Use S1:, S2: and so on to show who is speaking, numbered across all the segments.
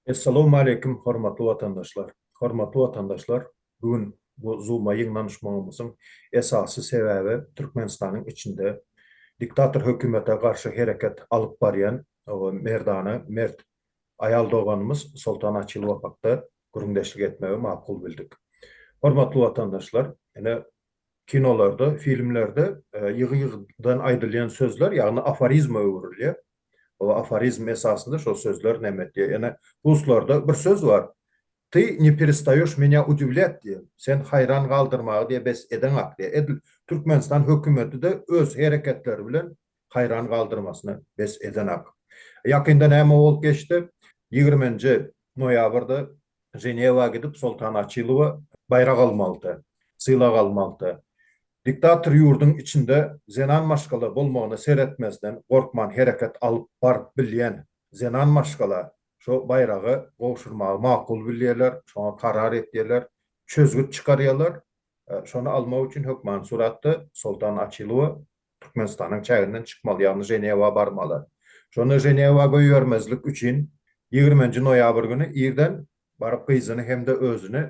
S1: Essalawmaleýkim hormatly watandaşlar! Hormatly watandaşlar bu gün bu Zoom-a ýygnanyşmagymyzyň esasy sebäbi Türkmenistanyň içinde diktator hökümete garşy hereket alyp barýan merdana mert aýal doganymyz Soltan Açylowa hakda gürrüňdeşlik etmegi makul bildik. Hormatly watandaşlar ine Kinolarda, filmlerde ýygy-ýygydan aýdylýan sözler, ýagny aforizma öwrülýär. O aforizm esasynda şol sözler näme etýär? Ýene ruslarda bir söz bar, Ty ne perestaýoş menýa udiwlýat diýen, Sen haýran galdyrmagy diýe bes edeňak diýýär. Edil Türkmenistan hökümeti-de öz hereketleri bilen haýran galdyrmasyny bes edenak. Ýakynda näme bolup geçdi? Ýigriminji noýabrda Ženewa gidip Soltan Açylowa baýrak almalydy, sylag almalydy. Diktator ýurduň içinde zenan maşgala bolmagyna seretmezden gorkman hereket alyp baryp bilýän zenan maşgala şo baýragy gowşurmagy makul bilýärler, şoňa karar etýärler, çözgüt çykarýarlar. Şony almak üçin hökman suratda Soltan Açylowa Türkmenistanyň çäginden çykmaly, ýagny Ženewa barmaly. Şonda Ženewa goýbermezlik üçin ýigriminji noýabr güni irden baryp gyzyny hem-de özüni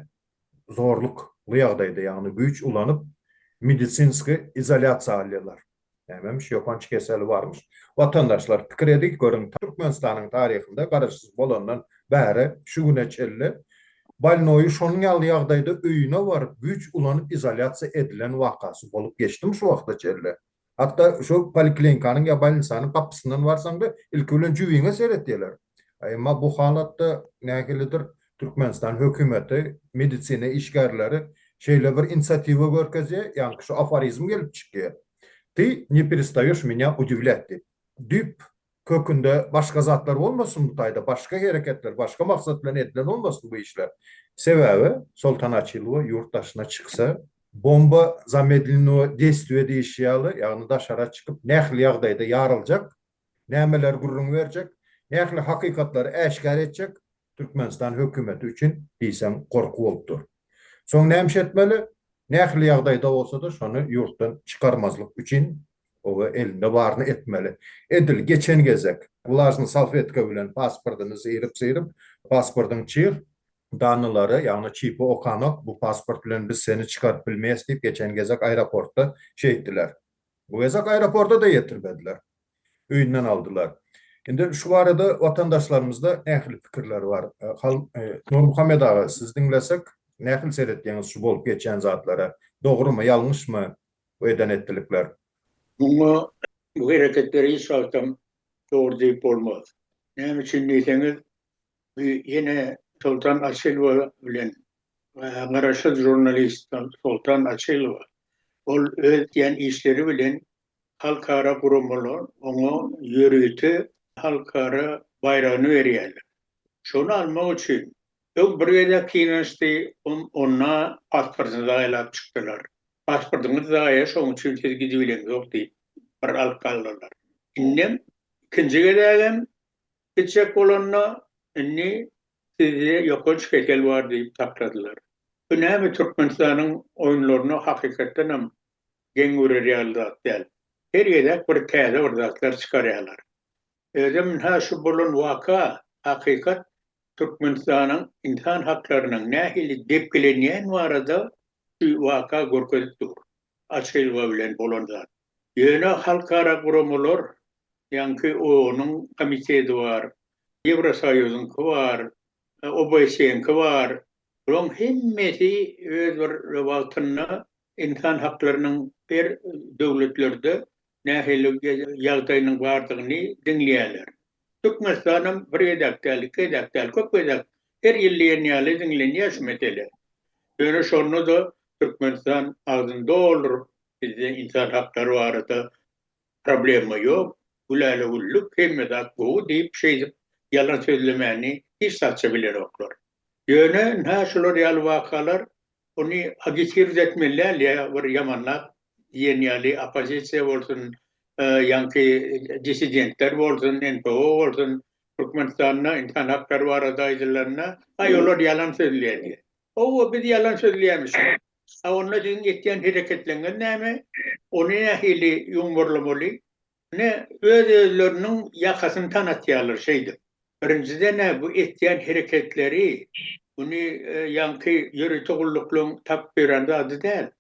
S1: zorlukly ýagdaýda, ýagny güýç ulanyp medisinskiý izolýasiýa alýarlar. Nämemiş, ýokanç keseli barmyş. Watandaşlar, pikir ediň görüň, Türkmenistanyň taryhynda garaşsyz bolandan bäri şu güne çenli, Bolnoýy şonuň ýaly ýagdaýda öýüne baryp güýç ulanyp izolýasiýa edilen wakasy bolup geçdimi şu wagta çenli? Hatda şo poliklinkanyň ýa bolnisanyň gapysyndan barsaňda ilki bilen jübiňe seretýeler. Emma bu halatda nähilidir Türkmenistan hökümeti, medisina işgärleri şeýle bir inisiatiwa görkezýä, ýaňky şu aforizm gelip çykýa, Ty ne perestaýeş menya udivlýat diýip. Düýp Kökünde başga zatlar bolmasyn bu taýda, başga hereketler, başga maksat bilen edilen bolmasyn bu işler. Sebäbi Soltan Açilova ýurt daşyna çyksa, bomba zamedlinýoe deýstwie diýişi ýaly, ýagny daşara çykyp nähili ýagdaýda ýaryljak, nämeler gürrüň berjek, nähili hakykatlary äşgär etjek, Türkmenistan hökümeti üçin diýseň gorky bolup dur. Soň nämiş etmeli? Nähili ýagdaýda bolsa-da şony ýurtdan çykarmazlyk üçin oba elinde baryny etmeli. Edil geçen gezek wlažny salfetka bilen pasportyny syryp-syryp, pasportyň çyg, danylary, ýagny çipi okanok, bu pasport bilen biz seni çykaryp bilmeýäs diýip geçen gezek aeroportda şeýtdiler. Bu gezek aeroporta-da ýetirmediler. Öýünden aldylar. Indi şu barada watandaşlarymyzda ähli pikirler bar. Nurmuhammet aga, sizi diňlesek, nähili seretýäňiz şu bolup geçýän zatlara? Dogrumy, ýalňyşmy bu eden-etdilikler? Muňa
S2: bu hereketleri hiç wagtam dogry diýip bolmaz. Näme üçin diýseňiz, Ýene Soltan Açylowa bilen garaşsyz žurnalist Soltan Açylowa. Ol öz edýän işleri bilen halkara guramalar oňa ýörite halkara baýragyny berýärler. Şony almak üçin öň bir gezek synanyşdy, onda pasportyny zaýalap çykdylar. Pasportyňyz zaýa, şonuň üçin siz gidibileňzok diýip, bir alyp galdylar. Indem ikinji gezegem Kiçek bolanda indi sizde ýokanç kesel bar diýip takladylar. Bu näme Türkmenistanyň oýunlaryna hakykatdanam geň görer ýaly zat däl. Her gezek bir täze bir zatlar çykarýalar. Özem ynha şu bolan waka hakykat Türkmenistanyň ynsan haklarynyň nähili depgilenýän barada şu waka görkezip dur. açylgy bilen bolan zat. Ýöne halkara guramalar, ýaňky OON-yň komiteti bar, Ýewrosoýuzyňky bar, OBSE-niňki bar, bularyň hemmesi öz bir wagtynda ynsan haklarynyň her döwletlerde nähili ýagdaýynyň bardygyny diňleýärler. Türkmenistanam bir gezek däl, iki gezek däl, köp gezek her ýyl diýen ýaly diňlenýär şu mesele. Ýöne şonda-da Türkmenistan agzyny dolduryp, bizde ynsan haklary barada problema ýok, gülälegüllük, hemme zat gowy diýip, şeýdip ýalan sözlemäni hiç zat-ça bilenoklar. Ýöne nä şular ýaly wakalar ony agitgird etmeli däl ýa bir ýamanlap diýen ýaly oppozisiýa bolsun, ýaňky dissidentler bolsun, NPO bolsun, Türkmenistanda ynsan haklary barada aýdylanda, aý olar ýalan sözleýär diýýär. Howwa biz ýalan sözleýämiş. A onda siziň etýän hereketleňňiz näme? Ony nähili ýumurlamaly? Ine, öz-özleriniň ýakasyny tanatýarlar şeýdip. Birinjiden-ä bu etýän hereketleri, muny ýaňky ýörite gulluklaryň tapyp ýören zady däl.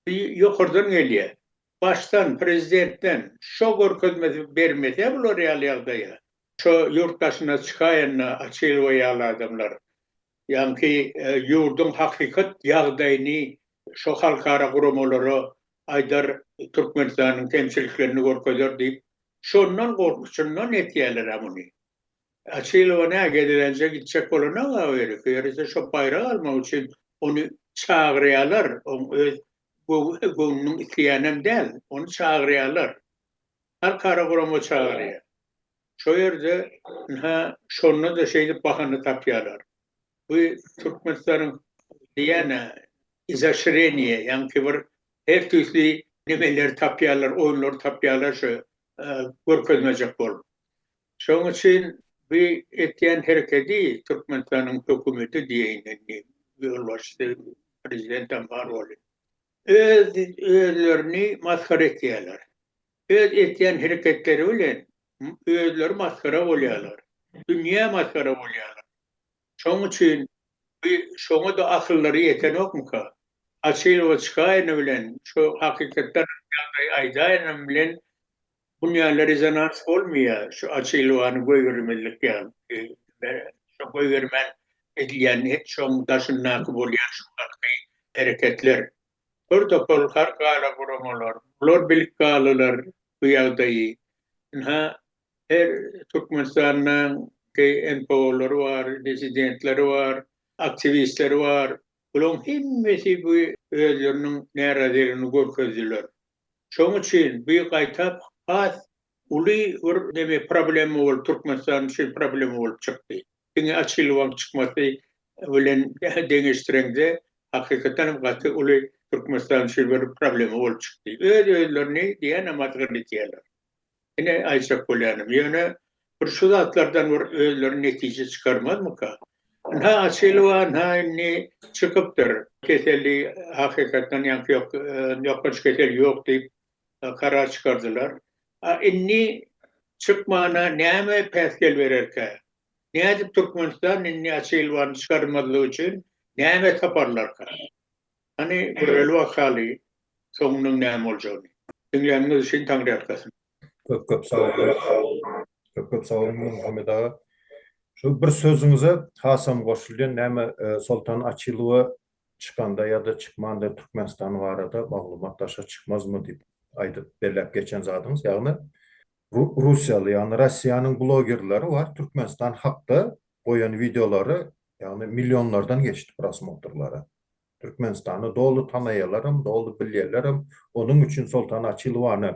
S2: Bu ýokardan gelýär. Başdan, prezidentden şo görkezmesi bermese bular ýaly ýagdaýa, şo ýurt daşyna çykaýanda Açylowa ýaly adamlar, ýaňky ýurduň hakykat ýagdaýyny şo halkara guramalara aýdar, Türkmenistanyň kemçiliklerini görkezer diýip, şondan gorkusundan etýäler-ä muny. Açylowa nä, gezelenje gitjek bolana-a o ýere, ýörese şo baýrak almak üçin ony çagyrýalar, oň öz göwnüniň isleýänem däl, ony çagyrýalar. Halkara gurama çagyrýar. Şo ýerde, ynha, şonda-da şeýdip bahana tapýalar. Bu türkmenistanyň diýýän-ä izoşreniýe, ýaňky bir her tüýsli nemeleri tapýarlar, oýunlary tapýarlar şu görkezmejek bolup. Şonuň üçin bu etýän herekedi türkmenistanyň hökümeti diýeýin indi, ýolbaşçysy, prezidentem bar boldy. Öz özlerini masgara etýärler. Öz etýän hereketleri bilen özleri masgara bolýarlar, dünýä masgara bolýarlar. Şoň üçin bi şoňa-da akyllary ýetenokmyka? Açylyga çykaýany bilen, şu hakykatdan ýagdaýy aýdaýanam bilen dünýäde rezonans bolmaýar, şu açylgany goýbermezlik ýaly. Şu goýbermän edilýän hek şoň daşyndaky bolýan şu galky hereketler. Hör topal, har galaguramalar, bular bilkgalylar, bu ýagdaýy. Ynha, her Türkmenistanyň GNPO-lary bar, dissidentleri bar, aktiwistleri bar. Bularyň hemmesi bu özleriniň närazylygyny görkezdiler. Şonuň üçin bu gaýtap has uly bir neme problema bolup, Türkmenistan üçin problema bolup çykdy. Diňe açyl wagt çykmasy bilen deňeşdireňde hakykatdan hem gaty uly Türkmenistan üçin bir problema bolup çykdy. Öz özlerini diýenam atgyn etýärler. Ine aýtjak bolýanym ýöne bir şu zatlardan bir özleri netije çykarmazmyka? Ynha açyl wa ynha indi çykypdyr. Keseli hakykatdan ýaňky ýok ýokanç kesel ýok diýip karar çykardylar. A indi çykmana näme päsgel bererkä? Nädip Türkmenistan indi Açylwany çykarmazlyk üçin näme taparlarka? Hany göreli bakaly soňunyň näme boljagyny. Diňläniňiz üçin Taňryýalkasyn. Köp köp sag
S1: boluň. Köp köp sag boluň Muhammet aga. Şu bir sözüňize hasam goşulýan näme Soltan Açylwa Çykanda ýa-da çykmanda Türkmenistan barada maglumat daşa çykmazmy diýip aýdyp belläp geçen zadyňyz, ýagny russiýaly, ýagny Rossiýanyň blogerleri bar, Türkmenistan hakda goýan wideolary, ýagny millionlardan geçdi prosmotyrlary. Türkmenistany doly tanaýalarem, doly bilýälerem, onuň üçin Soltan Açilowany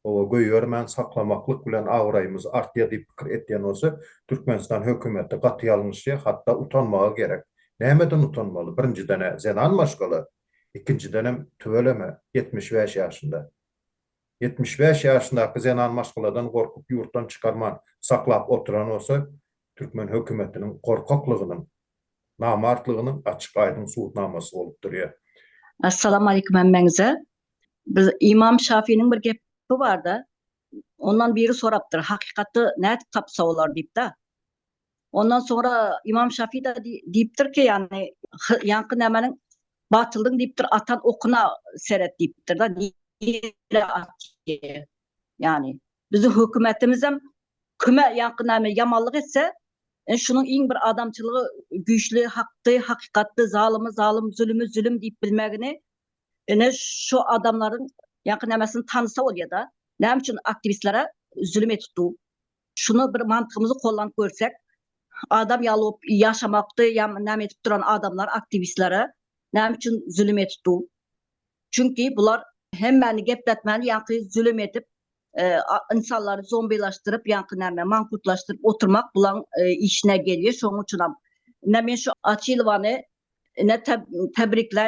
S1: oba goýbermän saklamaklyk bilen abraýymyz artýar diýip pikir etýän bolsa, Türkmenistan hökümeti gaty ýalňyşýar, hatda utanmaga gerek. Nämeden utanmaly? Birinjiden-ä zenan maşgala, ikinjidenem tüweleme ýetmiş bäş ýaşynda. Ýetmiş bäş ýaşyndaky zenan maşgaladan gorkup ýurtdan çykarman saklap oturan bolsa, türkmen hökümetiniň gorkaklygynyň, namartlygynyň açyk-aýdyň subutnamasy bolup durýar. Assalamu
S3: aleýkum hemmäňize. Biz Ymam Şafiniň bir gepi bar-da, ondan biri sorapdyr, hakykaty nädip tapsa bolar diýip-de. Ondan soňra Ymam Şafi-de diýipdir ki, ýagny ýaňky nämeniň batyldygyny diýipdir, atan okuna seret diýipdir-de, nirä atýar ýagny. Biziň hökümetimizem kime ýaňky näme ýamanlyk etse, e, şunuň iň bir adamçylygy güýçli hakdy, hakykatdy, zalymy zalym, zülümi zülüm diýip bilmegini, ine şu adamlaryň ýaňky nämesini tanysa bolýa-da, näme üçin aktiwistlere zülüm edip dur? Şuny bir mantygymyzy kollanyp görsek, adam ýaly bolup ýaşamakdy, ýa näme edip duran adamlar aktiwistlere näme üçin zülüm edip dur? Çünki bular hemmäni gepletmäni ýaňky zülüm edip ynsanlary zombilaşdyryp ýaňky näme mankutlaşdyryp oturmak bulaň işine gelýär şoň üçinam ine men şu açilowany ine tebrikle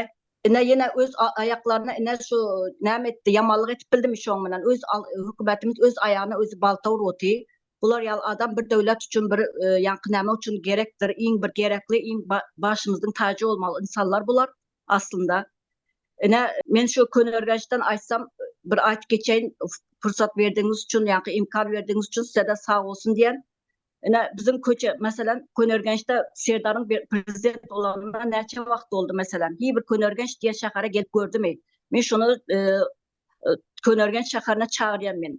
S3: ine ýene öz aýaklaryna ine şu näme etdi ýamanlyk edip bildimi şoň bilen öz hökümetimiz öz aýagyna özi balta urup otyr bular ýaly adam bir döwlet üçin bir ýaňky näme üçin gerekdir iň bir gerekli iň başymyzyň tajy bolmaly ynsanlar bular. aslynda. Ine, men şu köneürgençden aýtsam, bir aýtyp geçeýin, pursat berdigiňiz üçin, ýa-ki imkan berdigiňiz üçin size-de sag bolsun diýen. Ine, biziň köçe, meselem, köneürgençde Serdaryň bir prezident bolanyna näçe wagt boldy, meselem? Hiý bir köneürgenç diýen şähere gelip gördümi? Men şony, e, e, köneürgenç şäherine çagyrýan men.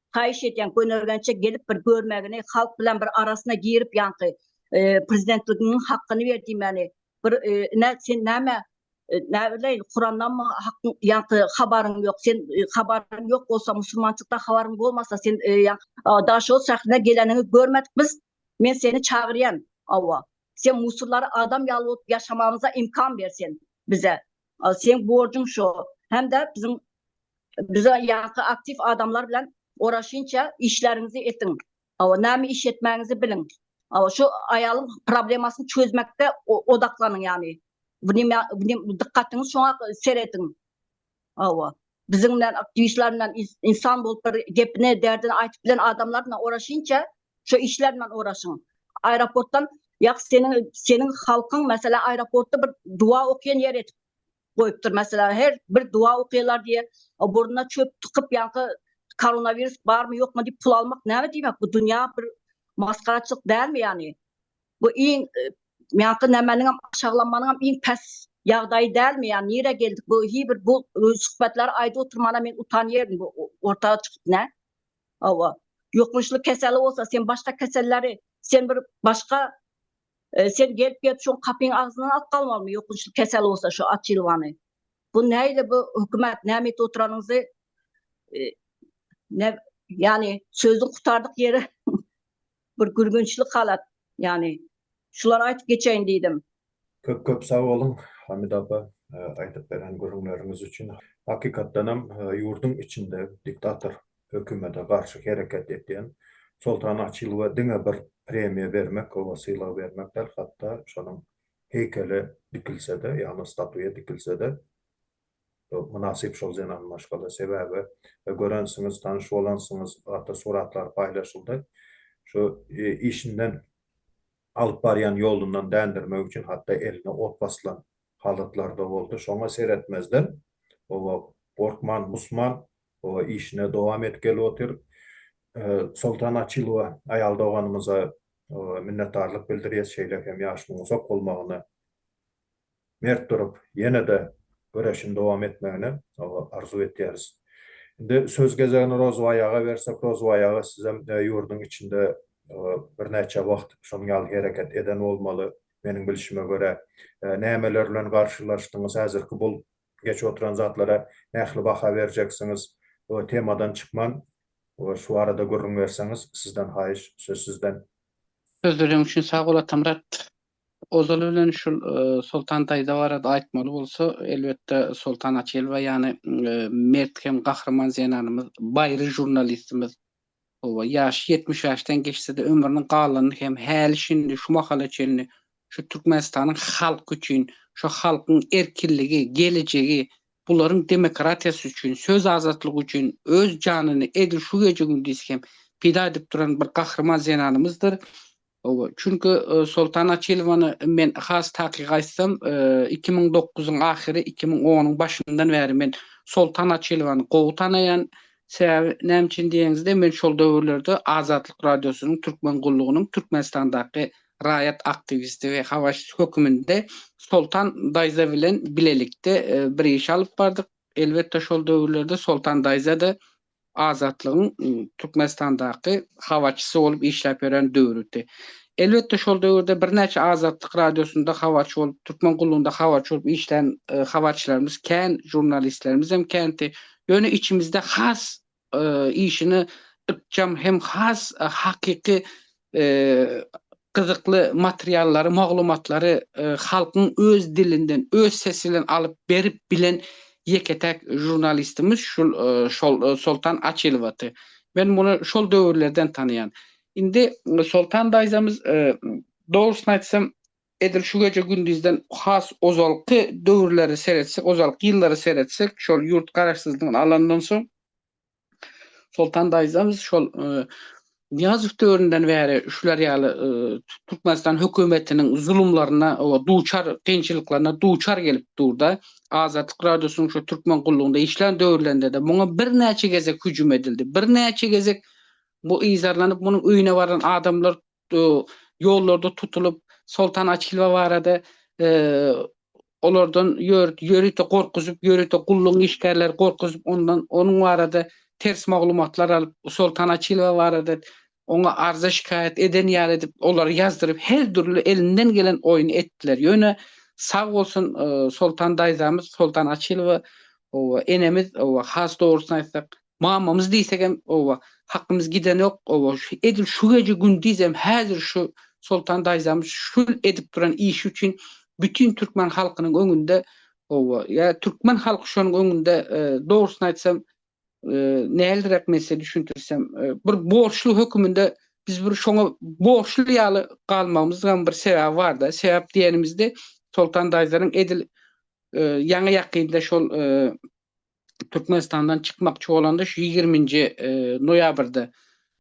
S3: Haýyş edýän gönergençe gelip bir görmegini halk bilen bir arasyna girip ýaňky prezidentliginiň hakgyny ber diýmegini bir ine sen näme näbileýin kurandanmy hakgyň ýaňky habaryň ýok sen habaryň ýok bolsa musulmançykda habaryň bolmasa sen daşoguz şährine geleniňi görmedik biz men seni çagyrýan awa sen musullary adam ýaly bolup ýaşamagymyza imkan ber sen bize seň borjuň şo hemde biziň Bize ýaňky aktiw adamlar bilen oraşinçe işleriňizi etiň. Hawa näme iş etmäňizi biliň. Hawa şu aýalyň problemasyny çözmekde odaklanyň ýagny. Wnyma wnym dykgatyňyz şoňa serediň. Hawa. Biziň bilen aktiwistler bilen insan bolup bir gepini derdini aýtyp bilen adamlar bilen oraşinçe şu işler bilen oraşyň. Aeroportdan ýa seniň seniň halkyň meselem aeroportda bir duwa okýan ýer edip goýupdyr meselem her bir duwa okylar diýe burnuna çöp tykyp ýaňky koronawirus barmy ýokmy diýip pul almak näme diýmek bu dünýä bir masgaraçylyk dälmi ýagny bu iň ýaňky nämeniňem aşaklanmanyňam iň pes ýagdaýy dälmi ýagny nirä geldik bu hi bir bu söhbetleri aýdyp oturmana men utanýaryn bu ortaga çykyp nä hawa ýokmuşly keseli bolsa sen başga keselleri sen bir başga Sen gelip gelip şoň kapyň agzyndan alyp galmalymy ýokunçly kesel bolsa şu aç ýylwany. Bu näýle bu hökümet näme edip oturanyňyzy ne ýani sözüň gutardyk ýeri bir gülgünçli halat ýani şulary aýtyp geçeýin diýdim. Köp köp sag
S1: boluň Hamida apa aýdyp beren gürrüňleriňiz üçin. Hakykatdanam ýurduň içinde diktator hökümete garşy hereket etýän Soltan Açylowa diňe bir premiýa bermek, oňa sylag bermek däl, hatda şonuň heýkeli dikilse-de, ýagny statuýa dikilse-de, mynasyp şol zenan maşgala. Sebäbi, görensiňiz, tanyş bolansyňyz, gaty suratlar paýlaşyldy. Şu işinden, alyp barýan ýolundan dändirmek üçin hatda eline ot basylan halatlar-da boldy. Şoňa seretmezden, oba gorkman, musman, O işine dowam etgeli otyr. Soltan Açylowa aýal doganymyza minnetdarlyk bildirýäs şeýle hem ýaşynyň uzak bolmagyny mert durup ýene-de göreşini dowam etmegini arzuw etýäris. Indi söz gezegini Rozbaý aga bersek Rozbaý aga sizem ýurduň içinde birnäçe wagt şonuň ýaly hereket eden bolmaly meniň bilşime görä nämeler bilen garşylaşdyňyz häzirki bul Geçip oturan zatlara nähili baha berjeksiňiz? We temadan çykman we şu barada gürrüň berseňiz sizden haýyş söz sizden. Sözleriň
S4: üçin sag bol Atamyrat. Ozaly bilen şul Soltan daýza barada aýtmaly bolsa elbetde Soltan Açyýelowa ýany mert hem gahryman zenanymyz, baýry žurnalistimiz. Hawa, ýaşy ýetmiş ýaşdan geçse-de, ömrüniň galanyny hem häli-şindi, şu mahala çenli şu Türkmenistanyň halky üçin, şu halkyň erkinligi, gelejegi, bularyň demokratiýasy üçin, söz azatlygy üçin öz janyny edil şu gije-gündiz hem pida edip duran bir gahryman zenanymyzdyr. Hawa, çünki Soltan Açilowany men has takyk aýtsam, iki müň dokuzyň ahyry, iki müň onuň başyndan bäri men Soltan Açilowany gowy tanaýan. Sebäbi näme üçin diýeniňizde, men şol döwürlerde Azatlyk Radiosynyň Türkmen gullugynyň Türkmenistandaky raýat aktiwisti we habarçysy höküminde Soltan daýza bilen bilelikde bir iş alyp bardyk. Elbetde, şol döwürlerde Soltan daýza-da Azatlygyň Türkmenistandaky habarçysy bolup işläp ýören döwrüdi. Elbetde, şol döwürde birnäçe Azatlyk Radiosynda habarçy bolup, Türkmen gullugynda habarçy bolup işlän habarçylarymyz kän, žurnalistlerimizem känti. Ýöne içimizde has işine ykjam hem has hakyky gyzykly materiallary, maglumatlary halkyň öz dilinden, öz sesi bilen alyp berip bilen ýeke-täk žurnalistimiz şul şol Soltan Açylowaty. Men muny şol döwürlerden tanaýan. Indi Soltan daýzamyz dogrusyny aýtsam, edil şu gije-gündizden has ozalky döwürleri seretsek, ozalky ýyllary seretsek, şol ýurt garaşsyzlygyny alandan soň, Soltan daýzam şol Nyýazow döwründen bäri şular ýaly Türkmenistan hökümetiniň zulumlaryna we duçar kynçylyklaryna duçar gelip dur-da, Azatlyk Radiosynyň şu Türkmen gullugynda işlän döwürlerinde-de muňa birnäçe gezek hüjüm edildi. Birnäçe gezek bu yzarlanyp, munuň öýüne baran adamlar ýollarda tutulyp, Soltan Açilba barada olardan ýörite gorkuzyp, ýörite gullugyň işgärleri gorkuzyp, ondan onuň barada ters maglumatlar alyp, Soltan Açilba barada oňa arza-şikaýat eden ýaly edip, olary ýazdyryp, her dürli elinden gelen oýny etdiler. Ýöne, sag bolsun, Soltan daýzamyz, Soltan Açilba enemiz has dogrusyny aýtsak, Mamamyz diýsegem, oba, hakymyz gidenok, oba, edil şu gije gündizem häzir şu Soltan daýzamyz şu edip duran işi üçin bütin türkmen halkynyň öňünde, oba, ýa türkmen halky şonuň öňünde, dogrusyny aýtsam, näldrek men size düşündirsem, bir borçly höküminde biz bir şoňa borçly ýaly galmagymyzam bir sebäbi bar-da. Sebäp diýenimizde Soltan daýzanyň edil ýaňy-ýakynda şol Türkmenistandan çykmakçy bolanda şu ýigirminji noýabrda,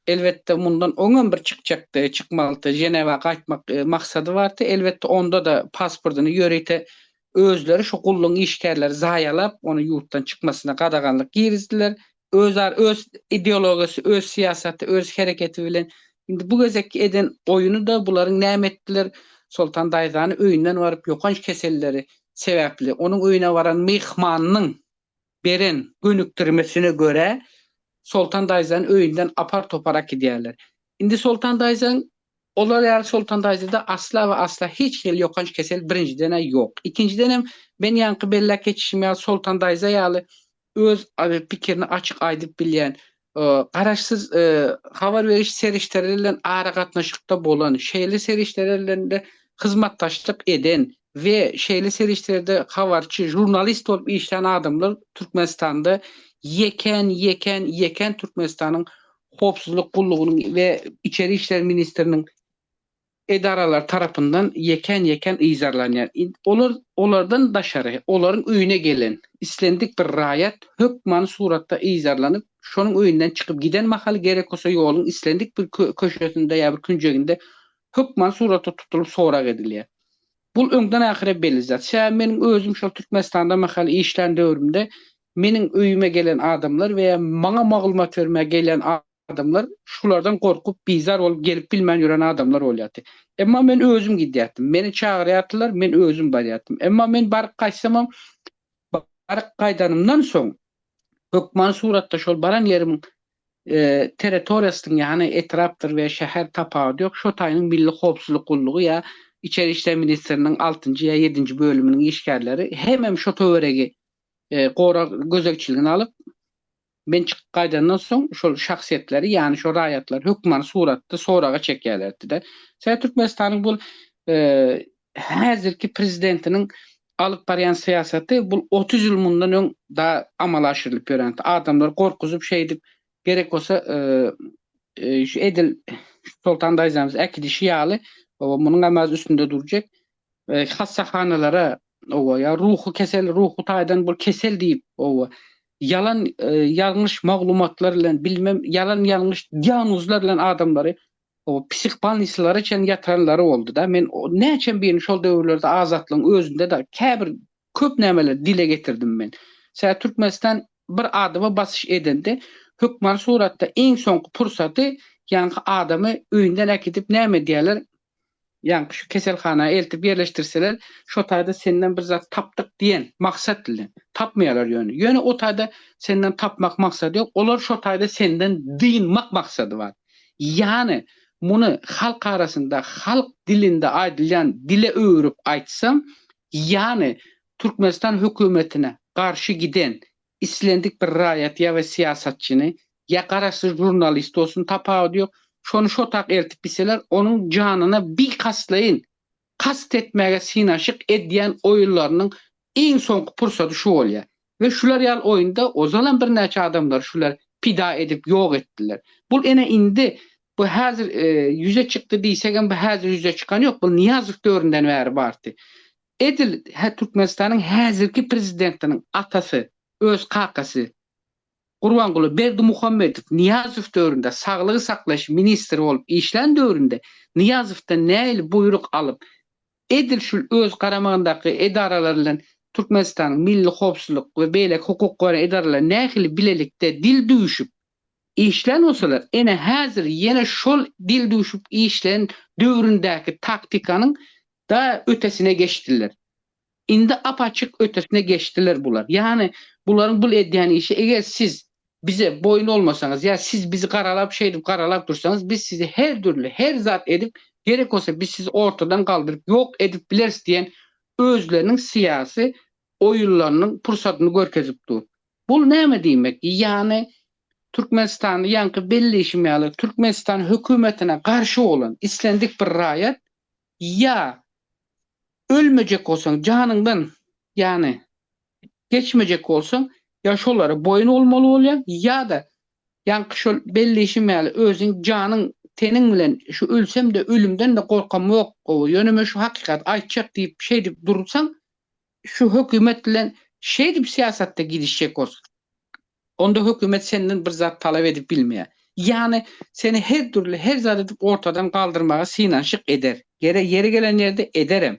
S4: elbetde, mundan oň hem bir çykjakdy, çykmalyddy, Ženewa gaýtmak maksady bardy. Elbetde, onda-da pasportyny ýörite özleri şu gullugyň işgärleri zaýalap, ony ýurtdan çykmasyna gadaganlyk girizdiler. Özar öz ideologiýasy, öz syýasaty, öz hereketi bilen indi bu gezekki eden oýuny-da bularyň näme etdiler, Soltan daýzany öýünden baryp ýokanç keselleri sebäpli onuň öýüne baran myhmanynyň beren gönükdirmesine görä, Soltan daýzany öýünden apar-topar äkidýärler. Indi Soltan daýzaň Olar ýaly Soltan daýzada asla we asla hiç hili ýokanç kesel birinjiden-ä ýok. Ikinjiden hem, men ýaňky belläp geçişim ýaly Soltan daýza ýaly öz pikirini açyk aýdyp bilýän, garaşsyz habar beriş serişdeleri bilen aragatnaşykda bolan, şeýle serişdeler bilen-de hyzmatdaşlyk eden we şeýle serişdelerde habarçy, žurnalist bolup işlän adamlar Türkmenistanda ýekän, ýekän, ýekän Türkmenistanyň Howpsuzlyk gullugynyň we Içeri işler ministriniň edaralary tarapyndan ýekän-ýekän yzarlanýar. Olar olardan daşary, olaryň öýüne gelen islendik bir raýat hökmany suratda yzarlanyp, şonuň öýünden çykyp giden mahaly gerek bolsa ýoluň islendik bir köşesinde ýa bir künjeginde hökmany suratda tutulyp sorag edilýär. Bul öňden ahyra belli zat. Ş. Meniň özüm şol Türkmenistanda mahaly işlän döwrümde meniň öýüme gelen adamlar we ýa maňa maglumat bermäge gelýän adamlar şulardan gorkup, bizar bolup gelip bilmän ýören adamlar bolýardy. Emma men özüm gidýärdim. Meni çagyrýardylar, men özüm barýardym. Emma men baryp gaýtsamam, baryp gaýdanymdan soň hökman suratda şol baran ýerimiň territoriýasynyň, ýagny etrapdyr we şäher tapawudy ýok, şo taýynyň Milli howpsuzlyk gullugy ýa Içeri işler ministriniň altynjy ýa ýedinji bölüminiň işgärleri hemem şo töweregi gorag gözegçiligine alyp, Men çykyp gaýdandan soň şol şahsyýetleri, ýagny şo raýatlary hökmany suratda soraga çekýärlerdi-de. Sebäbi Türkmenistanyň bul häzirki prezidentiniň alyp barýan syýasaty bul otuz ýyl mundan öň da amala aşyrylyp ýörensi. Adamlary gorkuzyp şeýdip gerek bolsa edil Soltan daýzamyz äkidişi ýaly munuň hem az üstünde durjak. hassahanalara owa ýa ruhy kesel ruhy taýdan bir kesel diýip owa ýalan ýalňyş maglumatlar bilen bilmem ýalan ýalňyş diagnozlar bilen adamlary owa psihbalnisalara çen ýatyranlary boldy da men näçem birini şol döwürlerde azatlygyň özünde de käbir köp nämeler dile getirdim men. Sä Türkmenistan bir adama basyş edende hökmany suratda iň soňky pursaty ýaňky adamy öýünden äkidip näme edýärler Ýaňky şu keselhana eltip ýerleşdirseler, şo taýda senden bir zat tapdyk diýen maksat bilen. Tapmaýarlar ýöne. Ýöne o taýda senden tapmak maksady ýok. Olar şo taýda senden dynmak maksady bar. Ýany muny halk arasynda, halk dilinde aýdylýan dile öwürip aýtsaň, ýany Türkmenistan hökümetine garşy giden Islendik bir raýat ýa we syýasatçyny, ýa garaşsyz žurnalist bolsun, tapawudy ýok, şony şotak eltip gitseler, onuň janyna bikas-laýyn, kast etmäge synaşyk edýän oýunlarynyň iň soňky pursady şu bolýar. We şular ýaly oýunda ozalam birnäçe adamlary şular pida edip ýok etdiler. Bul ene indi, bu häzir ýüze çykdy diýsegem, bu häzir ýüze çykan ýok, bul Nyýazow döwründen bäri bardy. Edil Türkmenistanyň häzirki prezidentiniň atasy, öz kakasy Gurbanguly Berdimuhamedow Nyýazow döwründe saglygy saklaýyş ministri bolup işlän döwründe Nyýazowdan nähili buýruk alyp, edil şul öz garamagyndaky edaralar bilen Türkmenistanyň Milli howpsuzlyk we beýleki hukuk goraýan edaralary nähili bilelikde dil düwüşip, işlän bolsalar, ene häzir ýene şol dil duşup işlän döwründäki taktikanyň da ötesine geçdiler. Indi apaçyk ötesine geçdiler bular. Ýany bularyň bul edýän işi eger siz bize boýun olmasaňyz ýa siz bizi garalap şeýdip garalap dursaňyz biz sizi her dürli her zat edip gerek bolsa biz sizi ortadan galdyryp ýok edip bileris diýen özleriniň syýasy oýunlarynyň pursatyny görkezip dur. Bul näme diýmek? Ýany Türkmenistanda ýaňky belleýşim ýaly Türkmenistan hökümetine garşy bolan islendik bir raýat ýa ölmejek bolsaň janyňdan ýany geçmejek bolsaň ýa şolara boýun bolmaly bolýaň ýa-da ýaňky şol belleýşim ýaly özüň janyň teniň bilen şu ölsem-de ölümden-de gorkamok gowy ýöne men şu hakykaty aýtjak diýip şeýdip dursaň Şu hökümet bilen şeýdip syýasatda gidişjek bolsaň, onda hökümet senden bir zat talap edip bilmeýär. Ýagny, seni her dürli, her zat edip ortadan galdyrmaga synanyşyk eder. Gerek ýeri gelen ýerde ederem.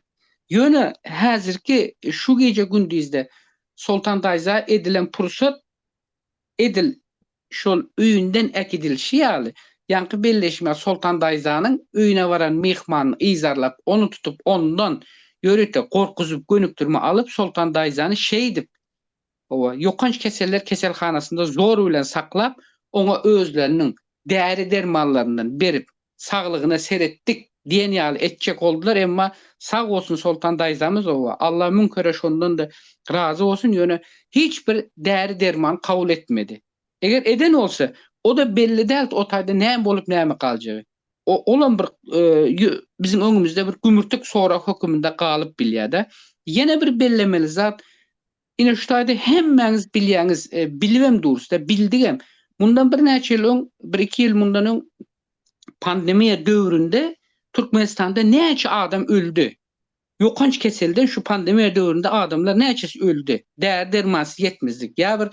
S4: Ýöne häzirki şu gije-gündizde Soltan daýza edilen pursat edil şol öýünden äkidilişi ýaly, ýaňky belleşmä Soltan daýzanyň öýüne baran myhmanyny yzarlap, ony tutup, ondan, ýörite, gorkuzyp, gönükdirme alyp, Soltan daýzany şeýdip, hawa, ýokanç keseller keselhanasynda zor bilen saklap, oňa özleriniň däri-dermanlaryndan berip, saglygyna seretdik diýen ýaly etjek boldular emma sag bolsun Soltan daýzamyzowa Allah müň kere şondanda razy bolsun ýöne hiç bir däri derman kabul etmedi eger eden bolsa oda belli dält o taýda näme bolup näme galjagy o olam bir biziň öňümizde bir gümürtik sorag höküminde galyp bilýädä ýene bir bellemeli zat Ine şu taýda hemmäňiz bilýäňiz, bilibem durusda, bildigem. Mundan birnäçe ýyl öň, bir-iki ýyl mundan öň pandemiýa döwründe Türkmenistanda näçe adam öldi? Ýokanç keselden şu pandemiýa döwründe adamlar näçesi öldi? Däri-dermansyz ýetmezlik ýa bir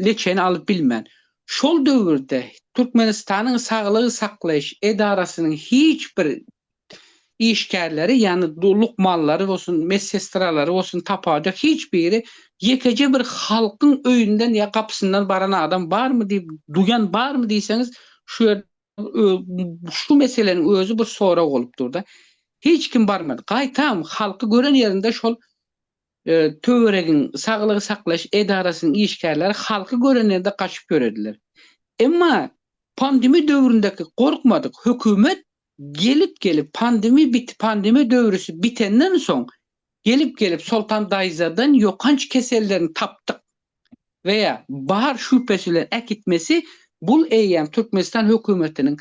S4: leçeni alyp bilmän. Şol döwürde Türkmenistanyň saglygy saklaýyş edarasynyň hiç bir işgärleri, ýagny lukmanlary bolsun, medsestralary bolsun tapawuda hiç biri ýekeje bir halkyň öýünden ýa gapysyndan baran adam barmy diýip, duýan barmy diýseňiz, şu ýerde şu meseleniň özi bir sorag bolup dur-da. Hiç kim barmady. Gaýtam, halky gören ýerinde şol töweregiň saglygy saklaýyş edarasynyň işgärleri halky gören ýerinde gaçyp ýörediler. Emma pandemiýa döwründeki gorkmadyk hökümet Gelip gelip pandemi bit pandemi döwrüsi bitenden soň gelip gelip Soltan daýzadan ýokanç kesellerini tapdyk we bar şübhesi bilen äkitmesi bul eýýäm Türkmenistan hökümetiniň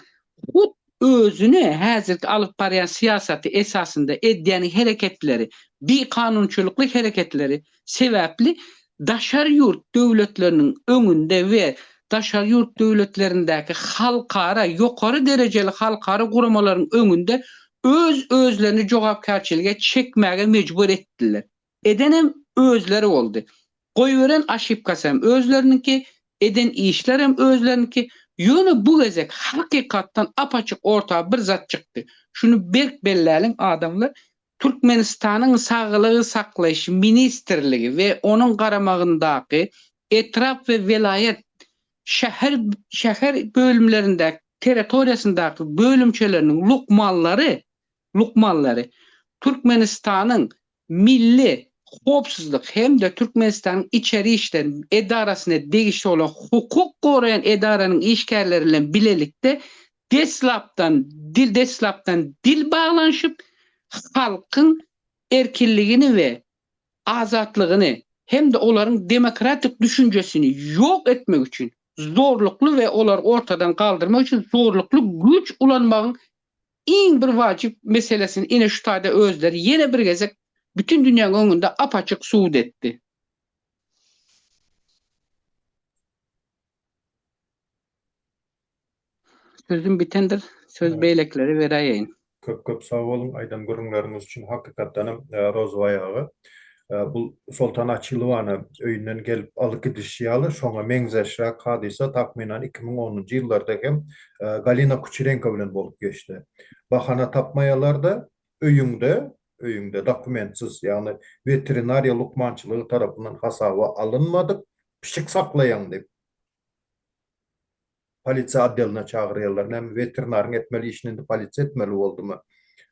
S4: hut özüni häzirki alyp barýan syýasaty esasynda edýän hereketleri bi kanunçylykly hereketleri sebäpli daşary ýurt döwletleriniň öňünde we daşary ýurt döwletlerindäki halkara, ýokary derejeli halkara guramalaryň öňünde öz-özlerini jogapkärçilige çekmäge mejbur etdiler. Edenem özleri boldy. Goýberen aşypkasy hem özleriniňki, eden işler hem özleriniňki. Ýöne bu gezek hakykatdan ap-açyk orta bir zat çykdy. Şuny berk belläliň adamlar, Türkmenistanyň Saglygy saklaýyş ministrligi we onuň garamagyndaky etrap we welaýat, şäher, şäher bölümlerindäki territoriýasyndaky bölümçeleriniň lukmanlary, lukmanlary Türkmenistanyň Milli howpsuzlyk hem-de Türkmenistanyň Içeri işler edarasyna degişli bolan hukuk goraýan edaranyň işgärleri bilen bilelikde deslapdan dil deslapdan dil baglanyşyp, halkyň erkinligini we azatlygyny hem-de olaryň demokratik düşünjesini ýok etmek üçin zorlukly we olary ortadan galdyrmak üçin zorlukly güýç ulanmagyň iň bir wajyp meselesini ine şu taýda özleri ýene bir gezek bütin dünýäň öňünde ap-açyk subut etdi. Sözüm bitendir, söz beýlekilere beräýeýin. Köp köp sag
S1: boluň aýdan gürrüňleriňiz üçin hakykatdanam Rozybay aga bul Soltan Açylowany öýünden gelip alyp gidişi ýaly şoňa meňzeşräk hadysa takmynan iki müň onunjy ýyllarda hem Galina Kuçerenko bilen bolup geçdi bahana tapmaýalarda öýüňde öýüňde dokumentsiz ýagny weterinariýa lukmançylygy tarapyndan hasaba alynmadyk pişik saklaýaň diýip Polisiýa otdeline çagyrýarlar. Näme, weterinaryň etmeli işini indi polisiýa etmeli boldumy?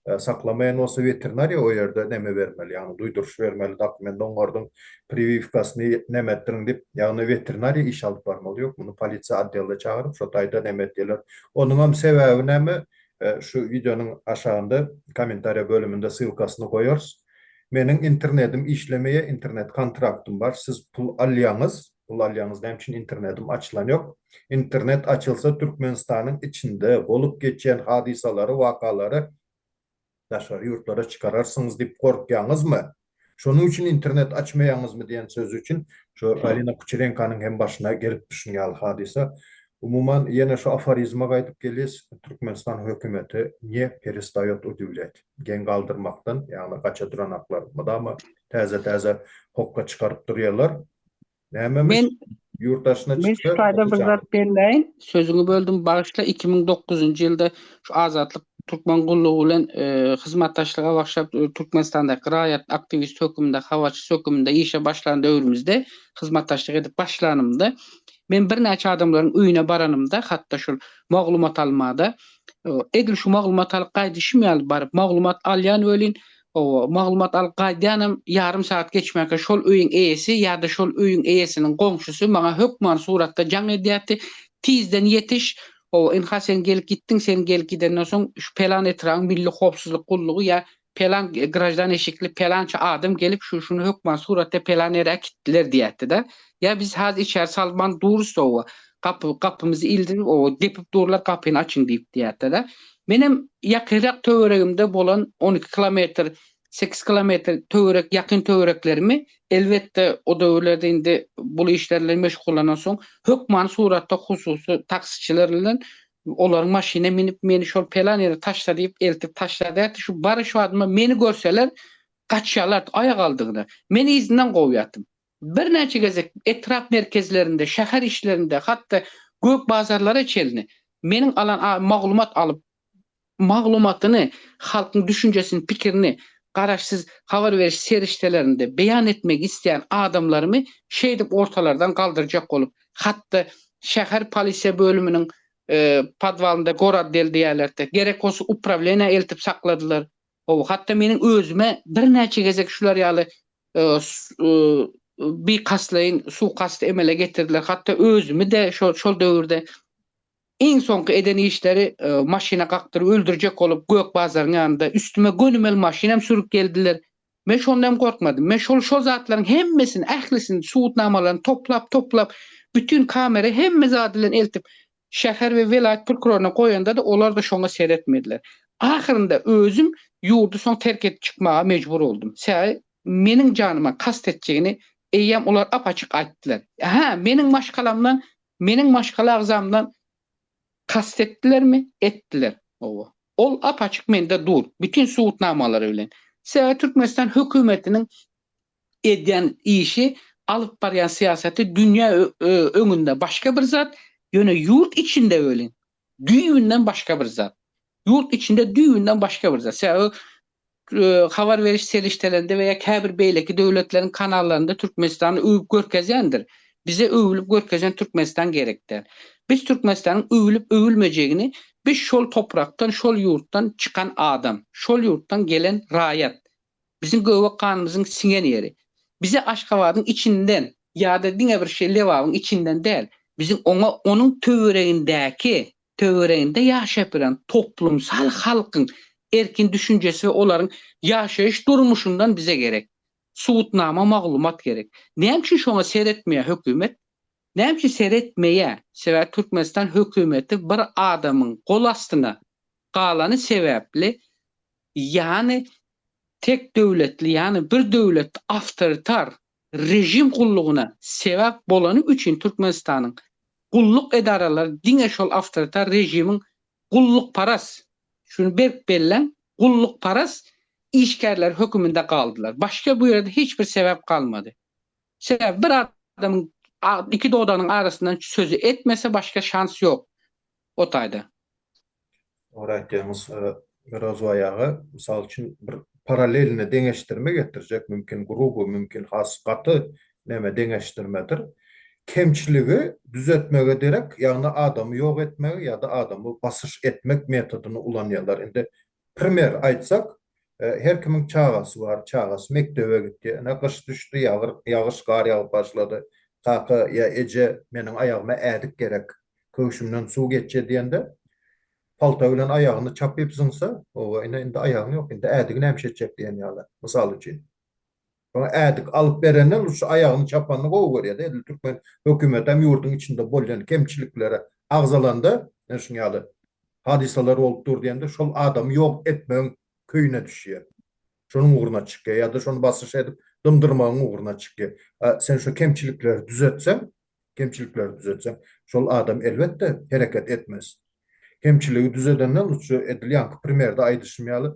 S1: Saklamaýan bolsa, weterinariýa o ýerde näme bermeli, ýagny duýduryş bermeli, dokument oňardyň, priwiwkasyny näme etdiriň diýip, ýagny weterinariýa iş alyp barmaly. Ýok, muny polisiýa otdeline çagyryp, şo taýda näme edýärler. Onuňam sebäbi näme, şu wideonyň aşagynda kommentariýa bölüminde ssylkasyny goýarys. Meniň internetim işlemeýär, internet-kontraktym bar, siz pul alýaňyz, Ulalýaňyz näme üçin internedim açylan ýok. Internet açylsa Türkmenistanyň içinde bolup geçýän hadysalary wakalary daşary ýurtlara çykararsyňyz diýip gorkýaňyzmy? Şonuň üçin internet açmaýaňyzmy diýen sözi üçin şo Galina Kuçerenkanyň hem başyna gelipdi şun ýaly hadysa. Umuman ýene şo aforizme gaýdyp gelýs Türkmenistan hökümeti ne perestaýot udivlýat. Geň galdyrmakdan ýagny gaça duranaklar mydama täze täze hokga çykaryp durýarlar. Nämemiş? Ýurt
S4: daşyna çyksa. Men
S1: şu taýda bir
S4: zat
S1: belläýin.
S4: Sözüňi böldüm, bagyşla. Iki müň dokuzynjy ýylda şu Azatlyk türkmen gullugy bilen hyzmatdaşlyga başlap, Türkmenistandaky raýat aktiwist höküminde, habarçysy höküminde işe başlan döwrümizde, hyzmatdaşlyk edip başlanymda, men birnäçe adamlaryň öýüne baranymda, hat-da şol maglumat alma-da, edil şu maglumat alyp gaýdyşym ýaly baryp, maglumat alýan welin, Hawa, maglumat alyp gaýdýanam ýarym sagat geçmäkä şol öýüň eýesi ýa-da şol öýüň eýesiniň goňşusy maňa hökman suratda jaň edýärdi, Tizden ýetiş! Hawa, ynha sen gelip gitdiň, sen gelip gidenden soň şu pelan etrabyň milli howpsuzlyk gullugy ýa pelan graždan eşikli pelança adam gelip şu-şuny hökman suratda pelan ýere äkitdiler diýýärdi-de. Ýa biz has içeri salman durus oba, gapy gapymyzy ildirip oba depip durlar gapyny açyň diýip diýätde-de. Menem ýakynrak töweregimde bolan on iki kilometr, sekiz kilometr töwerek ýakyn töwereklerimi elbetde o döwürlerde indi bul işler bilen meşgullanansoň hökmany suratda hususy taksiçiler bilen olaryň maşynyna minip meni şol pelan ýere taşla diýip eltip taşladýardy. Şu baryş wadyma meni görseler gaçýarlardy aýagaldygyna. Men yzyndan kowýardym. Birnäçe gezek etrap merkezlerinde, şäher işlerinde, hat-da gök bazarlara çenli meniň alan maglumat alyp, maglumatyny, halkyň düşünjesini, pikirini garaşsyz habar beriş serişdelerinde beýan etmek isleýän adamlarymy şeýdip ortalardan galdyrjak bolup, hat-da şäher polisiýa bölüminiň podwalynda gorad del diýýärlerdi, gerek bolsa uprawleniýä eltip sakladylar. Hawa, hatda meniň özüme birnäçe gezek şular ýaly bikastlaýyn suwkasty emele getirdiler. Hatda özümi-de şol döwürde iň soňky eden işleri maşyna kakdyryp öldürjek bolup Gök bazaryň ýanynda üstüme gönümel maşyn hem sürüp geldiler. Men şonda hem gorkmadym. Men şol şol zatlaryň hemmesini, ählisini, subutnamalaryny toplap-toplap, bütin kamera hemme zady bilen eltip, Şäher we welaýat prokuroryna goýanda-da olar-da şoňa seretmediler. Ahyrynda özüm ýurdy soň terk edip çykmaga mejbur boldum. Sebäbi meniň janyma kast etjegini eýýäm olar ap-açyk aýtdylar. Hä, meniň maşgalamdan, meniň maşgala agzamdan kast etdilermi? Etdiler. Hawa. Ol ap-açyk mende dur, bütin subutnamalary bilen. Sebäbi Türkmenistan hökümetiniň edýän işi, alyp barýan syýasaty dünýä öňünde başga bir zat, ýöne ýurt içinde welin, düýbünden başga bir zat. Ýurt içinde düýbünden başga bir zat. Sebäbi habar beriş serişdelerinde we ýa käbir beýleki döwletleriň kanallarynda Türkmenistany öwüp görkezýändir. Bize öwülip görkezýän Türkmenistan gerek däl. Biz Türkmenistanyň öwülip öwülmejegini biz şol toprakdan, şol ýurtdan çykan adam, şol ýurtdan gelen raýat, Biziň göbek ganymyzyň siňen ýeri. Bize Aşgabadyň içinden ýa-da diňe bir şeý Lebabyň içinden däl, biziň oňa onuň töweregindäki, töwereginde ýaşap bilen toplumsal halkyň erkin düşünjesi we olaryň ýaşaýyş durmuşyndan bize gerek. Subutnama maglumat gerek. Näme üçin şoňa seretmeýär hökümet? Näme üçin seretmeýär? Sebäbi Türkmenistan hökümeti bir adamyň gol astyna galany sebäpli Ýagny tek döwletli, ýagny bir döwlet awtoritar režim gullugyna sebäp bolany üçin Türkmenistanyň gulluk edaralary diňe şol awtoritar režimiň gullukparas, şuny berk belläň, gullukparas işgärleri höküminde galdylar. Başga bu ýerde hiç bir sebäp galmady. Sebäbi bir adamyň iki dodagynyň arasyndan sözi etmese başga şans ýok. O taýda. Dogry
S1: aýtýaňyz Mirozbaý aga. Mysal üçin bir paralelni deňeşdirme getirjek mümkin gruby mümkin has gaty näme deňeşdirmedir. Kemçiligi düzetmege derek ýagny adamy ýok etmegi ýa-da adamy basyş etmek metodyny ulanýarlar. Indi Primer aýtsak, her kimiň çagasy bar, çagasy mekdebe gitdi, ine gyş düşdi, ýagyş, gar ýagyp başlady, kaka ýa eje meniň aýagyma ädik gerek, köwşümden suw geçje diýende, palta bilen aýagyny çapyp zyňsa, oba ine indi aýagyň ýok, indi ädigi näme etjek diýen ýaly, mysal üçin. Şoňa ädik alyp berenden ol şu aýagyny çapanyny gowy görýär-de, edil türkmen hökümeti hem ýurduň içinde bolýan kemçiliklere agzalanda, ine şuň ýaly hadysalar bolup dur diýende şol adamy ýok etmegiň köýüne düşýär. Şonuň ugruna çykýar ýa-da şony basyş edip dymdyrmagyň ugruna çykýar. A sen şu kemçilikleri düzetseň, kemçilikleri düzetsem, şol adam elbetde hereket etmez. Kemçiligi düzedenden lutje edil ýaňky primerde aýdyşym ýaly,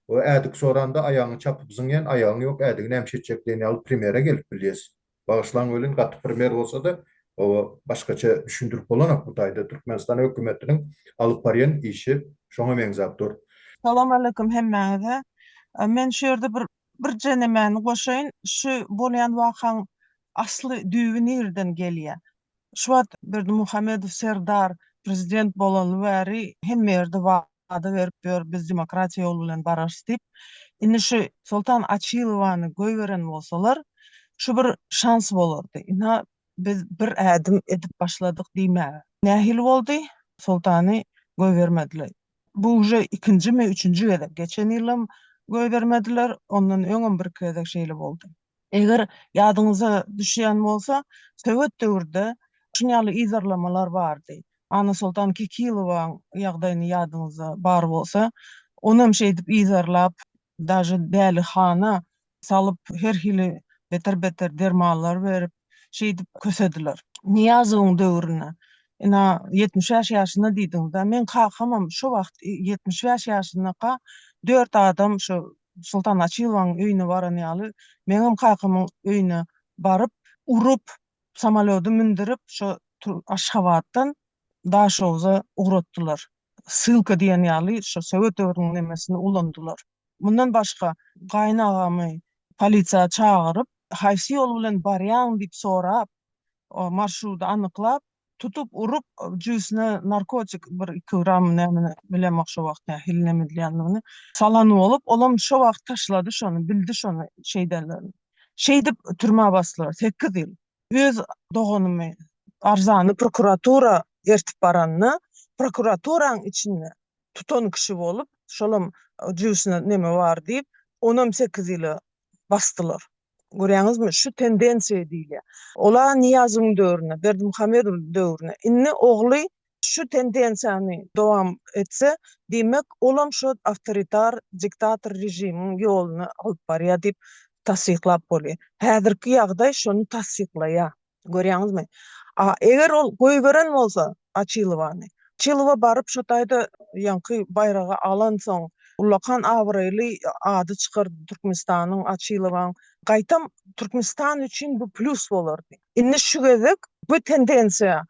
S1: we ädik soranda aýagyňy çapyp zyňýan aýagyň ýok ädigi nämişe etjek diýen ýaly primere gelip bilýäs. Bagyşlaň welin gaty primer bolsada oba başgaça düşündirip bolanok bu taýda Türkmenistan hökümetiniň alyp barýan işi şoňa meňzäp dur. Salam aleýkum
S5: hemmäňize. Men şu ýerde bir Birje nemäni goşaýyn, şu bolýan wakaň asly düýbi nireden gelýä? Şu wagt Berdimuhamedow Serdar prezident bolaly bäri hemme ýerde wada berip ýör biz demokratiýa ýoly bilen bararys diýip. Indi şu Soltan Açilowany goýberen bolsalar şu bir şans bolardy. Ynha biz bir ädim edip başladyk diýmäge. Nähili boldy? Soltany goýbermediler. Bu uje ikinjimi, üçünji gezek. Geçen ýylam goýbermediler, ondan öňem birki gezek şeýle boldy. Eger ýadyňyza düşýän bolsa, sowet döwürde şuny ýaly yzarlamalar bardy. Annasoltan Kekilowaň ýagdaýyny ýadyňyzda bar bolsa, onam şeýdip yzarlap, Daže dälihana salyp her hili beter beter dermanlar berip şeýdip kösediler. Nyýazowyň döwründe ina ýetmiş bäş ýaşynda diýdiňizda meň kakamam şo wagt ýetmiş bäş ýaşyndaka dört adam şo Sultan Açylowaň öýüne baran ýaly meňem kakamyň öýüne baryp urup samolýody mündürip şo Aşgabatdan Daşogza ugratdylar. Ssylka diýen ýaly şo sowet döwrüniň nemesini ulandylar. Mundan başga, gaýynagamy polisiýa çagyryp, haýsy ýol bilen barýaň diýip sorap, marşrudy anyklap, tutup urup, jübüsine narkotik bir iki gram nämeni, bilemok şo wagt nähili neme edilýändigini, salan bolup, olam şo wagt taşlady şony, bildi şony şeýdenlerini. Şeýdip türmä basdylar, sekiz ýyl. Öz doganymy arzany prokuratura ertip baranda, prokuraturaň içinde tutan kişi bolup, şolam jübüsine neme bar diýip, onam sekiz ýyla basdylar. Görýäňizmi, şu tendensiýa diýilýär. Ol-a Nyýazowyň döwründe, Berdimuhamedowyň döwründe. Indi ogly şu tendensiýany dowam etse, diýmek, olam şo awtoritar, diktator režimiň ýoluna alyp barýar diýip tassyklap bolýar. Häzirki ýagdaý şony tassyklaýar. Görýäňizmi? A eger ol goýberen bolsa Açilowany, Açylowa baryp şo taýda ýaňky baýragy alansoň, ullakan abraýly ady çykardy Türkmenistanyň, Açylowaň. Gaýtam Türkmenistan üçin bu plýus bolardy. Indi şu gezek bu tendensiýa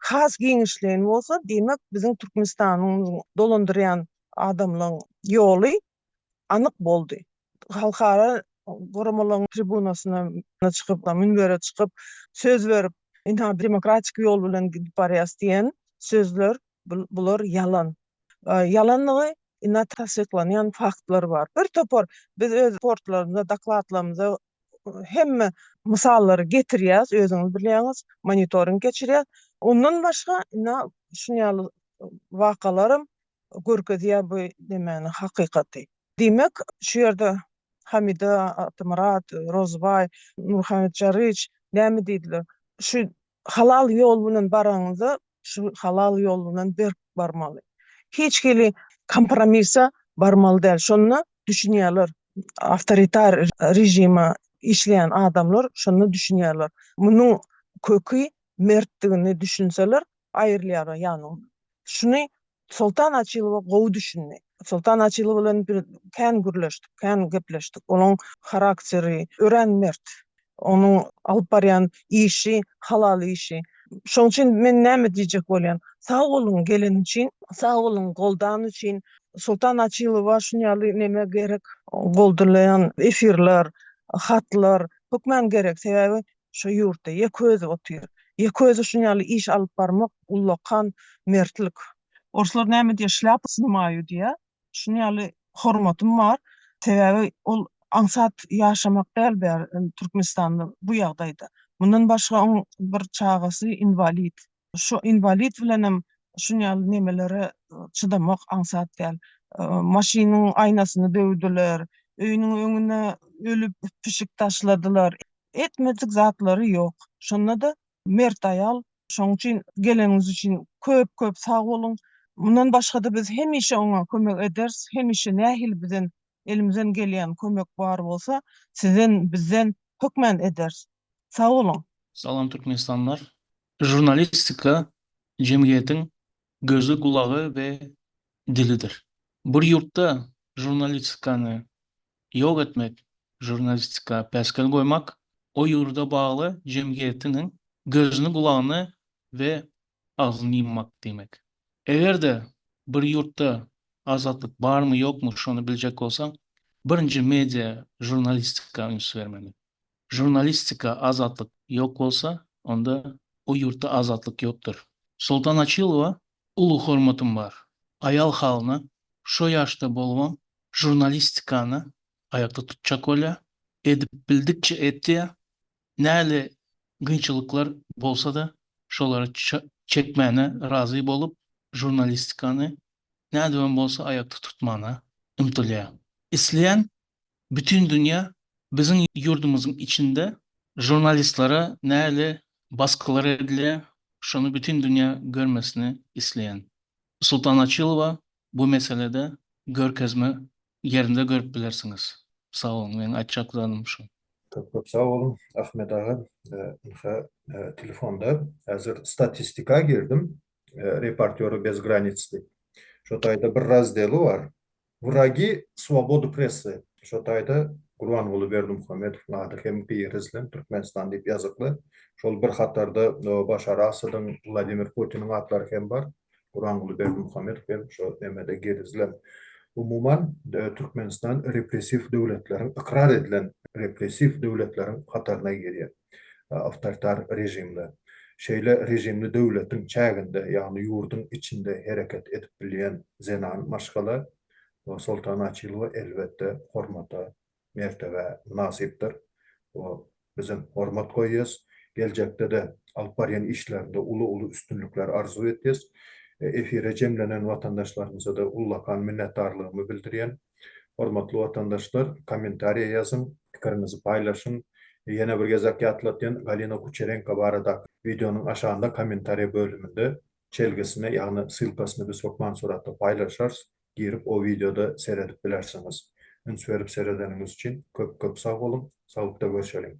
S5: has giňişleýin bolsa, diýmek, biziň Türkmenistanymyzyň dolandyrýan adamlaryň ýoly anyk boldy. Halkara guramalaryň tribunasyna çykyp, münbere çykyp, söz berip, ynha, demokratik ýol bilen gidip barýas diýen sözler, bular ýalan. Ýalanlygy ynha tassyklanýan faktlar bar. Bir topar biz öz raportlarymyzda, dokladlarymyzda hemme mysallary getirýäs, özüňiz bilýäňiz, monitoring geçirýäs. Ondan başga, ine, şuny ýaly wakalaram görkezýär bu nemäni, hakykaty. Diýmek, şu ýerde Hamida, Atymyrat, Rozybaý, Nurhammet Jaryç näme diýdiler? Şu Halal ýol bilen baraňyzda, şu halal ýol bilen berk barmaly. Hiç hili kompromisa barmaly däl. Şonda düşünýärler, awtoritar režime işleýän adamlar şonda düşünýärler. Munuň köki mertdigini düşünseler, aýrylýarlar ýanyndan. Şuny Soltan Açylowa gowy düşündi. Soltan Açylow bilen bir kän gürleşdik, kän gepleşdik. Onuň harakteri örän mert. Onuň alyp barýan işi halal işi. Şoň üçin men näme diýjek bolýan. Sag boluň geleni üçin. Sag boluň goldany üçin. Soltan Açylowa şun ýaly neme gerek. Goldalaýan efirler, hatlar hökman gerek. Sebäbi Şo ýurtda ýeke özi otyr. Ýeke özi şun ýaly iş alyp barmak ullakan mertlik. Orslar näme diýýär, şlýapa snymaýu diýýär. Şun ýaly hormatym bar. Sebäbi ol aňsat ýaşamak däl bäri Türkmenistanda bu ýagdaýda. Mundan başga oň bir çagasy inwalid. Şo inwalid bilenem şun ýaly nemelere çydamak aňsat däl. Maşynyň aýnasyny döwdüler, öýüniň öňüne ölüp pişik taşladylar. Etmedik zatlary ýok. Şonda-da mert aýal. Şoň üçin geleniňiz üçin köp köp sag boluň. Mundan başga-da biz hemişe oňa kömek ederis. Hemişe nähili bizden elimizden gelýän kömek bar bolsa sizden bizden hökman ederis. Sag boluň. Salam Türkmenistanlar.
S6: Žurnalistika jemgyýetiň gözi, gulagy we dilidir. Bir ýurtda žurnalistikany ýok etmek, žurnalistika päsgel goýmak o ýurda bagly jemgyýetiniň gözüni, gulagyny we agzyny ýummak diýmek. Eger-de bir ýurtda azatlyk barmy, ýokmy şony biljek bolsaň, birinji media žurnalistika üns bermeli. Žurnalistika azatlyk ýok bolsa, onda o ýurtda azatlyk ýokdur. Soltan Açylowa uly hormatym bar. Aýal halyna şo ýaşda bolubam žurnalistikany aýakda tutjak bolýa, edip bildikçe etýä, näle gynçylyklar bolsada şolary çekmäne razy bolup žurnalistikany nädibem bolsa aýakda tutmana ymtylýa. Isleýän Bütin dünýä biziň ýurdumyzyň içinde žurnalistlere nähili basgylar edilýär, şony bütin dünýä görmesini isleýän Sultan Açylowa bu meselede görkezme ýerinde görüp bilersiňiz. Sag boluň, meniň aýtjak zadym şu. Köp köp sag boluň
S1: Ahmet aga. Ynha, telefonda häzir statistika girdim, Reportýory bez granic diýip. Şo taýda bir razdeli bar. Wragi swobody pressy, şo taýda Gurbanguly Berdimuhamedowyň ady hem girizlen, Türkmenistan diýip ýazykly. Şol bir hatarda Başar Asadyň, Wladimir Putiniň atlary hem bar. Gurbanguly Berdimuhamedow hem şo nemede girizlen. Umuman, Türkmenistan repressiw döwletleriň, ykrar edilen repressiw döwletleriň hataryna girýär. awtoritar režimde. Şeýle režimli döwletiň çäginde, ýagny ýurduň içinde hereket edip bilýän zenan maşgala Nursoltan Açylowa elbetde hormata, mertebä mynasypdyr. Ol bizem hormat goýýas. Geljekde-de alyp barýan işlerinde uly-uly üstünlikler arzuw etýäs. Efire jemlenen watandaşlarymyza-da ullakan minnetdarlygymy bildirýän. Hormatly watandaşlar kommentariýa ýazyň, pikiriňizi paýlaşyň. Ýene bir gezek ýatladýan Galina Kuçerenko baradaky wideonyň aşagynda kommentariýa bölüminde çelgisini ýagny ssylkasyny biz hökman suratda paýlaşarys, girip o wideoda seredip bilersiňiz. Üns berip seredeniňiz üçin köp köp sag boluň, saglykda görşeliň.